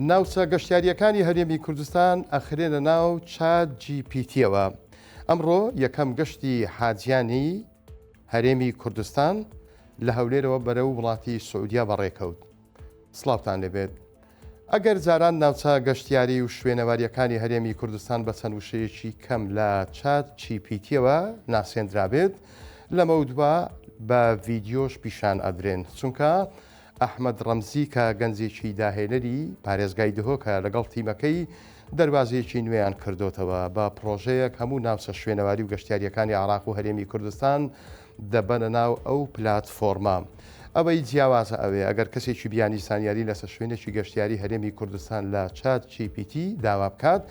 ناوچە گەشتیارییەکانی هەرێمی کوردستان ئەخرێنە ناو چات جی پیتیەوە ئەمڕۆ یەکەم گەشتی حاجیانی هەرێمی کوردستان لە هەولێرەوە بەرە و وڵاتی سعودیا بەڕێکەوت سلااوان لەبێت ئەگەر جاران ناوچە گەشتیاری و شوێنەوارییەکانی هەرێمی کوردستان بە چەند وشەیەکی کەم لە چات چی پی تیەوە ناسێندرابێت، لەمەودوا بە ڤیدیۆش پیشان ئەدرێن، چونکە ئەحمەد ڕەمزی کە گەنجێکی داهێنەری پارێزگای دهۆکە لەگەڵ تیمەکەی دەروازەیەکی نوێیان کردۆتەوە بە پڕۆژەیەک هەموو ناوچە شوێنەواری و گەشتیاریەکانی عراق و هەرێمی کوردستان دەبەنە ناو ئەو پلاتفۆرمە. ئەوەی جیاوازە ئەوەیە ئەگەر کەسێکی بیانی زانیاری لەسەر شوێنێکی گەشتیاری هەرێمی کوردستان لە چات جی پی تی داوا بکات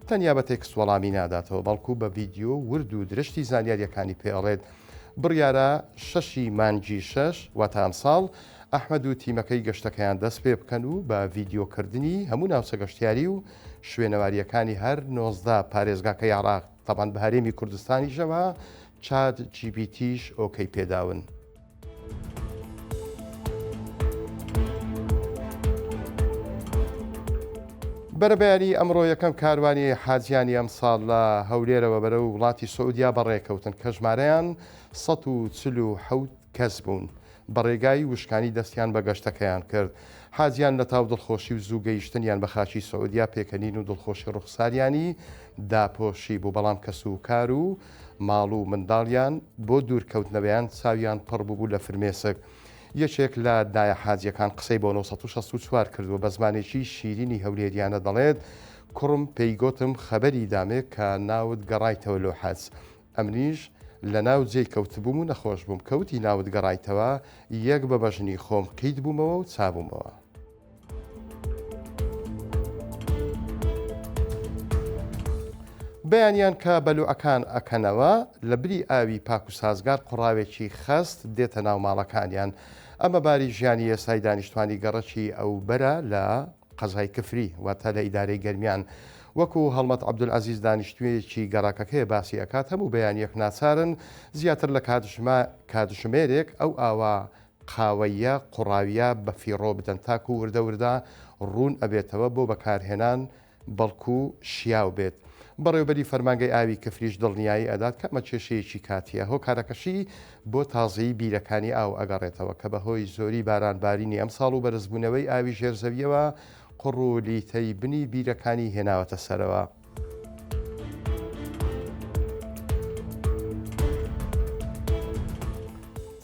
تەنیا بە تێکست وەڵامی ناداتەوە بەڵکو بە ڤیدیۆ ورد و درشتی زانیاریەکانی پێ ئەڵێت بڕیارە شەشی مانگی شەش واتە ئەمساڵ ئەحمەد و تیمەکەی گەشتەکەیان دەست پێ بکەن و بە ڤیدیۆ کردنی هەموو ناوچە گەشتیاری و شوێنەواریەکانی هەر نۆزدە پارێزگاکەی عێراق تەبان بە هەرێمی کوردستانیشەوە چاد جیبیتیش ئۆکەی پێداون. بەرەبیانی ئەمڕۆ یەکەم کاروانی حاجیانی ئەم ساڵ لە هەولێرەوە بەرە و وڵاتی سعودیا بەڕێکەوتن کە ژمارەیان 1970 کەس بوون بە ڕێگای وشکانی دەستیان بە گەشتەکەیان کرد، حاجیان لە تاو دڵخۆشی و زوو گەیشتنیان بە خاکی سعودیە پێکەنین و دڵخۆشی ڕوخساریانی داپۆشی بوو، بەڵام کەس و کار و ماڵ و منداڵیان بۆ دوور کەوتنەوەیان چاویان پڕ بووبوو لە فرمێسک. یەکێک لە دایە حاجیەکان قسەی بۆ نۆ سەد و شەست و چوار کردووە بە زمانێکی شیرینی هەولێریانە دەڵێت، کوڕم پێی گۆتم خەبەری دامێ کە ناوت گەڕایتەوە لۆ حەج ئەمنیش لەناو جێی کەوتبووم و نەخۆش بووم، کە وتی ناوت گەڕایتەوە، یەک بە بەژنی خۆم قیت بوومەوە و چابوومەوە. بەیانیان کە بەلوعەکان ئەکەنەوە، لە بری ئاوی پاک و سازگار قوڕاوێکی خەست دێتە ناو ماڵەکانیان. ئەمە باری ژیانی ئێستای دانیشتوانی گەڕەکی ئەوبەرە لە. قەزای کفری، واتە لە ئیدارەی گەرمیان. وەکو هەڵمەت عەبدولعەزیز دانیشتوویەکی گەڕەکەکەیە باسی ئەکات، هەموو بەیانیەک ناچارن زیاتر لە کاتژمە کاتژمێرێک ئەو ئاوە قاوەییە قوڕاویە بە فیڕۆ بدەن تاکو وردە وردە ڕوون ئەبێتەوە بۆ بەکارهێنان بەڵکو شیاو بێت. بەڕێوبەری فەرمانگەی ئاوی کفریش دڵنیایی ئەدات کە ئەمە کێشەیەکی کاتیە هۆکارەکەشی بۆ تازەیی بیرەکانی ئاو ئەگەڕێتەوە کە بەهۆی زۆری باران بارینی ئەمساڵ و بەرزبوونەوەی ئاوی ژێر زەویەوە قوڕ و لیتەی بنی بیرەکانی هێناوەتە سەرەوە.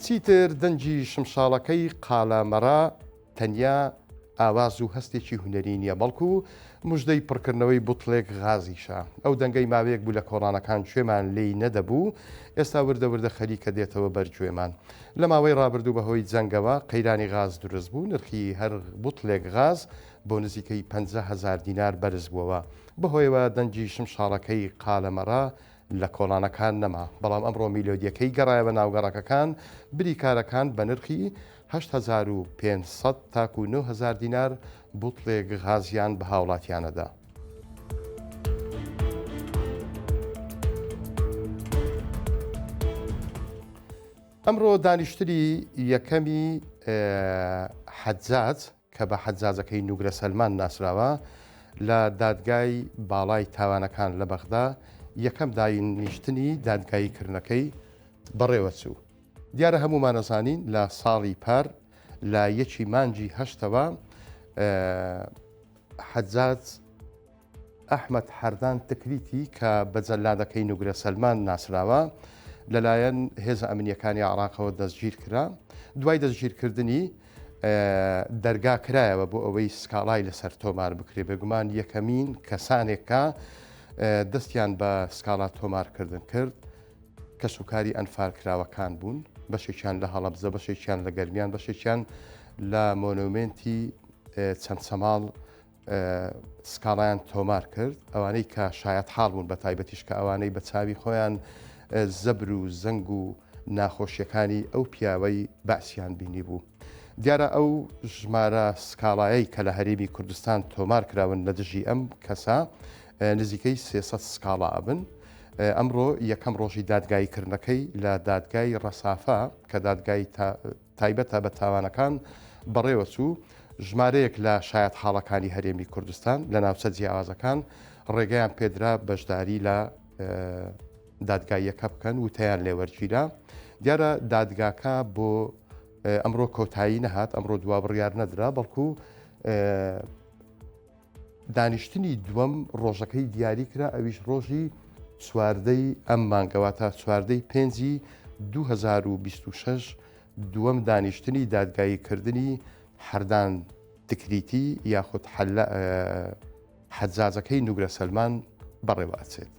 چیتر دەنگی شمشاڵەکەی قالە مەرا تەنیا ئاواز و هەستێکی هونەری نییە بەڵکو مژدەی پڕکردنەوەی بوتڵێک غازیشە ئەو دەنگەی ماوەیەک بوو لە کۆڵانەکان کوێمان لێی نەدەبوو ئێستا وردە وردە خەریکە دێتەوە بەرگوێمان لە ماوەی ڕابردوو بەهۆی جەنگەوە قەیرانی غاز دروست بوو نرخی هەر بوتڵێک غاز بۆ نزیکەی 500 هزار دینار بەرز بووەوە بەهۆیەوە دەنگی شمشاڵەکەی قالەمەڕە لە کۆڵانەکان نەما، بەڵام ئەمڕۆ میلۆدییەکەی گەڕایە بە ناو گەڕەکەکان، بریکارەکان بە نرخی هەشت هەزار و پێنج سەد تاکوو نۆ هەزار دینار بوتڵێک غازیان بە هاوڵاتییانە دا. ئەمڕۆ دانیشتنی یەکەمی حەجاج کە بە حەجاجەکەی نوگرە سەلمان ناسراوە، لە دادگای باڵای تاوانەکان لە بەغدا یەکەم داینیشتنی دادگاییکردنەکەی بەڕێوەچوو. دیارە هەموومان ئەزانین لە ساڵی پار لە یەکی مانگی هەشتەوە حەجاج، ئەحمەد حەردان تکریتی کە بە جەلادەکەی نوگرە سەلمان ناسراوە، لەلایەن هێزە ئەمنییەکانی عێراقەوە دەستگیرکرا، دوای دەستگیرکردنی، دەرگا کرایەوە بۆ ئەوەی سکاڵای لەسەر تۆمار بکرێت، بێگومان یەکەمین کەسانێک کە دەستیان بە سکاڵا تۆمارکردن کرد، کەسوکاری ئەنفالکراوەکان بوون، بەشێکیان لە هەڵەبجە، بەشێکیان لە گەرمیان، بەشێکیان لە مۆنۆمێنتی چەمچەماڵ، سکاڵایان تۆمار کرد ئەوانەی کە شایەت حاڵ بوون بە تایبەتیش کە ئەوانەی بە چاوی خۆیان زەبر و زەنگ و ناخۆشیەکانی ئەو پیاوەی بەعسیان بینی بوو. دیارە ئەو ژمارە سکاڵایەی کە لە هەرێمی کوردستان تۆمار کراون لە دژی ئەم کەسە نزیکەی سێسە سکاڵا ئەبن. ئەمڕۆ یەکەم ڕۆژی دادگاییکردنەکەی لە دادگای ڕەسافە کە دادگای تایبەتە بە تاوانەکان بەڕێوەچوو، ژمارەیەک لە شایەتحاڵەکانی هەرێمی کوردستان لە ناوچە جیاوازەکان ڕێگەیان پێدرا بەشداری لە دادگاییەکە بکەن وتیان لێوەرگیرا دیارە دادگاکە بۆ ئەمڕۆ کۆتایی نەهات ئەمڕۆ دوا بڕیار نەدرا بەڵکو دانیشتنی دووەم ڕۆژەکەی دیاری کرا ئەویش ڕۆژی چواردەی ئەم مانگەوە تا چواردەی پێنجی 2026 دووەم دانیشتنی دادگاییکردنی حەردان تکریتی یاخود حەجاجەکەی نوگرە سەلمان بەڕێوە ئەچێت.